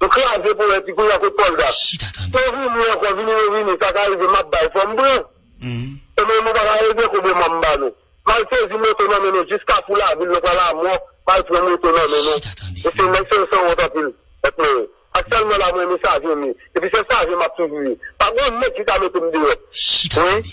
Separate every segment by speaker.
Speaker 1: Nou kraze polèt li kounya kot pòlda. Chita tande. Yo vini ankò vini yo vini sa ka rive map bay fòm pran ebyen nou paka ede koube manm ba nou mal sezi moto nan men nou jis kafou lavil nou pran lamò mal pran moto nan men nou Chita tande. mesye nèg sa yo sanwont anpil mèt mwen yo ak sèl mwen la mwen renmen sajen m ye epi se sajen map toujou ye pa gon nèg ki ka mete m deyò Chita wi. tande.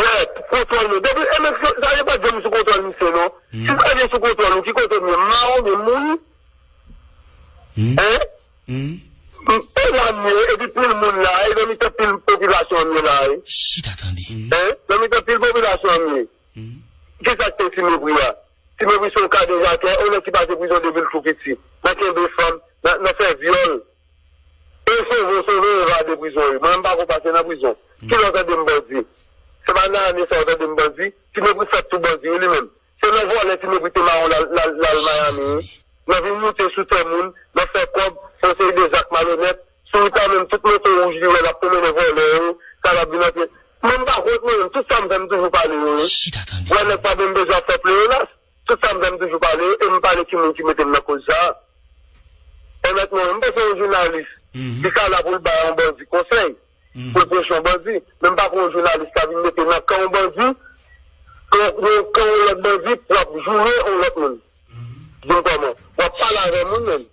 Speaker 1: Red, kontwòl nou. Depi e men sa yo pat janm sou kontwòl misye non. Si sa vin sou kontwòl ou ki kote m ye? M mare w men m mouri? Hein? E la m ye epi pil moun la e nan mitan pil popilasyon m ye la e. Chita tande. Hein? Nan mitan pil popilasyon m ye. Kisa
Speaker 2: k te
Speaker 1: Ti Mepri a? Ti Mepri se yon kadejakè, yon nèg ki pase prizon depil tou piti. Nan kenbe fanm, nan fè vyòl. E sove sove evade prizon wi. Mwen menm pako pase nan prizon. Kilè w tande m bandi? Se pa nan ane sa w tande m bandi? Ti mepri fèt sou bandi wi li menm. Se nan vòlè ti mepri te mawon l al Miami wi. Nan vin moute sou tè moun, nan fè kòb, fè yon seri de zak malonèt. Sou wout la menm tout moto wouj li wè l ap pwomennen vòlè yo, sa l ap vin antre. Mwen m pa kont mwen menm. Tout sa m fè m toujou pale yo wi. Wè nèg pa menm bezwen ap fè pleyonas. Tout tan m fè m toujou pale e m pale ki moun ki mete m nan koz sa. Onètman, m panse yon jounalis li ka la pou l bay yon bandi konsèy, pou l preche yon bandi, men m pa kwè yon jounalis ka vin mete nan kan yon bandi, nan kan yon lòt bandi pou ap joure yon lòt moun. Di m kòman? W ap pale avè moun menm.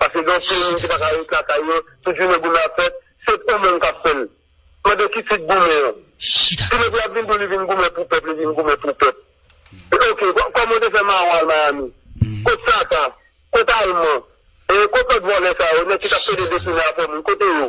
Speaker 1: Pase gen anpil moun ki paka ret lakay yo tout jounen goumen ap fèt se ou menm kap fèl mande ki tit goumen an si nèg la vin diw li vin goumen pou pèp li vin goumen pou pèp ok kòman ou te fè maron al miami kot satan kot alman e kot lòt vòlè sa yo nèg ki tap pede depine afè moun kote yo.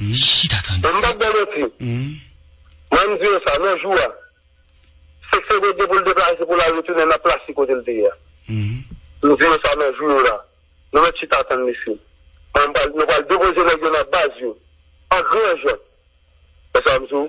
Speaker 1: M chita tande sa. M pap bay manti. Mwen m di yo sa. Nan jou a. Seksyon Goat gen pou l deplase pou l al retounen nan plas li kote l te ye a. M di yo sa nan jou yo la. Nou mèt chita tann mesye. Mwen m pral, nou pral depoze nèg yo nan baz yo. An gran jan. Wè sa m di w?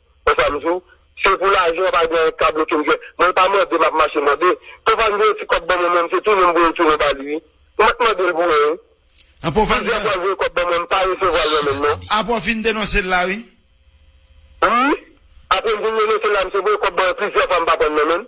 Speaker 1: Ou sa m di w? Se pou lajan an pa gen anyen k ka bloke m fè. Mwen pa mande, m ap mache mande. Povann voye ti kòb ban mwen men m se tou menm voye l tounen ba li wi. M pa t mande l pou yen wi.
Speaker 3: Plizyè fwa l voye kòb ban mwen m pa
Speaker 1: resevwa l nan men m non. Apre w fin denonse l la
Speaker 3: wi.
Speaker 1: Wi. Apre m fin denonse l la m se voye kòb ban mwen plizyè fwa m pa pran l nan men m.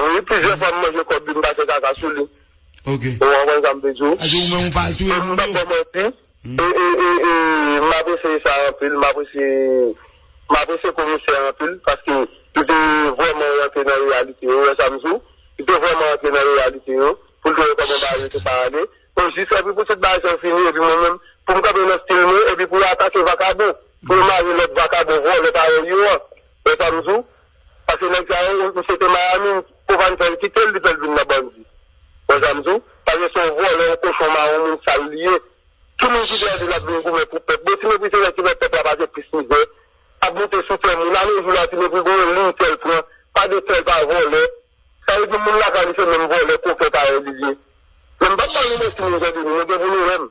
Speaker 3: Wi plizyè
Speaker 1: fwa m manje kòb li m pase kaka sou li. Ok. Ou konprann
Speaker 3: sa m vle
Speaker 1: di w? Sa vle di ou menm ou pa al touye
Speaker 3: moun yo? San manti,
Speaker 1: m apresye sa anpil, m apresye m apresye komisè a anpil paske li te vrèman rantre nan reyalite yo, ou wè sa m di w? Li te vrèman rantre nan reyalite yo pou l te wè kòman bagay yo te ka ale. Ou jis fè pi pitit bagay sa yo fini epi mwen menm pou m kanpe nan stil mwen epi pou yo atake vakabon, pou yo mare lòt vakabon vòlè parèy yo an, ou wè sa m di w? Pase nèg sa yo misye te miami Covane fèl kitel li fèl vin nan bandi bon sa m diw pagen son vòlè yon kochon maron moun sal li ye ki moun ki dèyèl di lap vin goumen pou pèp bon ti mepri se lè ki lè pèp la pase plis mizè ap moute sou kè moun ale jou la ti mepri gon yon liy kèl pran pa de kèl pa vòlè sa vle di moun lakay li se menm vòlè kokè parèy li liye men m pap bal nou mèsi moun zòdi nou nou gen pou nou renmn.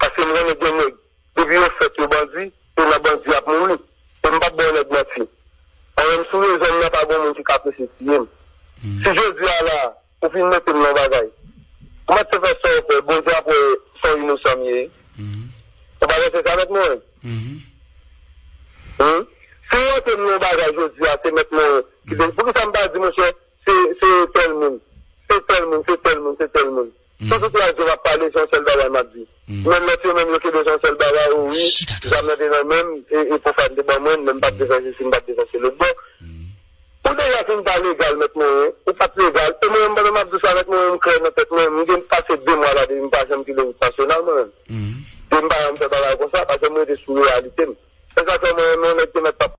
Speaker 1: Paske m konnen gen nèg depi yo fèt yo bandi e nan bandi yap mouri e m pap ba yon nèg manti Mwen menm sou rezon m nan pa gon moun ki ka prese tiye m Si jodi a la ou fin mete m nan yon bagay koumanse fè sa w fè Bondye ap wè se yon inosan m ye Ou pa panse sa mèt Morin Humm Si w rantre m nan yon bagay jodi a se mèt Morin ki te Poukisa m pa di monchè se tèl moun se tèl moun se tèl moun se tèl moun. Tout viktim ak zòm ap pale se yon sèl bagay map di men lòt yo menm yo kenbe se yon sèl bagay o wi zam nan te nan menm e pofam te ban mwen men mpap defann sisi mpap defann se lòt bò ou deja fin pa legal mèt morin ou pat legal e mwen menm pandan map di w sa mèt morin mklè nan tèt mwen mgen pase 2 mwa la depi mpa janm kite wout nasyonal mwen menm depi mpa janm fè bagay konsa paske m rete sou reyalite m se sak fè mwen renmen yon nèg ke mèt pa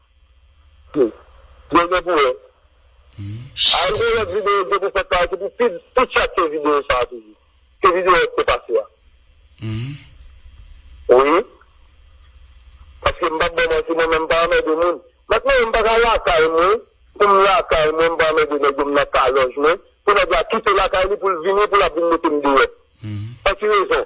Speaker 1: Ii. Yo gen pou wè. Ii. Al gwo lòt videyo gen pou fèt sa a ki pou pi pi chat ke videyo sa a toujou. Ke videyo a te pase a. Ii. Wi. Paske m pap ba w manti mwen menm m pa anmède moun. Mèt mwen yo m pa ka lakay mwen pou m lakay mwen m pa anmède nèg yo m nan kalòj mwen pou nèg la kite lakay li pou l vini pou l ap vin mete m deyò. Ii. Pou ki rezon?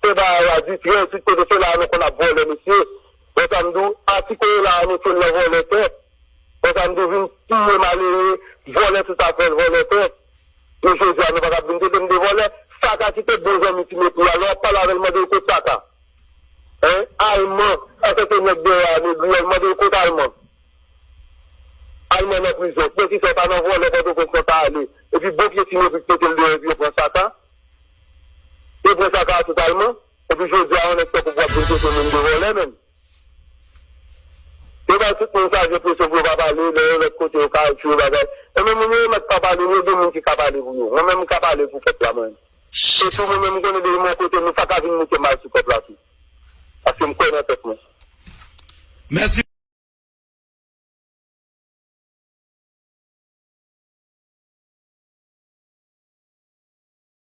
Speaker 1: Pè Bahaw a di, Frè Etude kote se la a nou konn ap vòlè mesye? Bon sa m di w, a ti koye la a mete l nan vòlè tè? Bon sa m di w, vin tiye malere, vòlè tout afè l, vòlè tè? Men jodi a nou pa ka ap vin trete m de vòlè? Saka ki te bon zanmi Ti Mepri a, lè w ap pale avè l mande l kot Saka? Hein? Alman, sa se te nèg dèyè a Negri a, mande l kot Alman? Alman nan prizon. Pou kisa yo pa nan vòlè Pòtoprens nan ta ale? Epi bon pye Ti Mepri k mete l deyò epi yo pran Saka? Yo pran sa partout allemand epi jodi a yon nèg tankou pou ap vin trete moun de vòlè menm. Yo bay tout moun sa jenpresyon pou yo pa pale lè yo lòt kote yo ka al tiye bagay. Enben moun yo yo mèt pa pale ni yo gen moun ki ka pale pou yo. Mwen menm m ka pale pou pèp la mwen. E tou mwen menm m konnen depi m yon kote moun sa ka vin mete mal sou pèp la tou. Paske m kwè
Speaker 3: nan
Speaker 1: tèt mwen. Mèsi.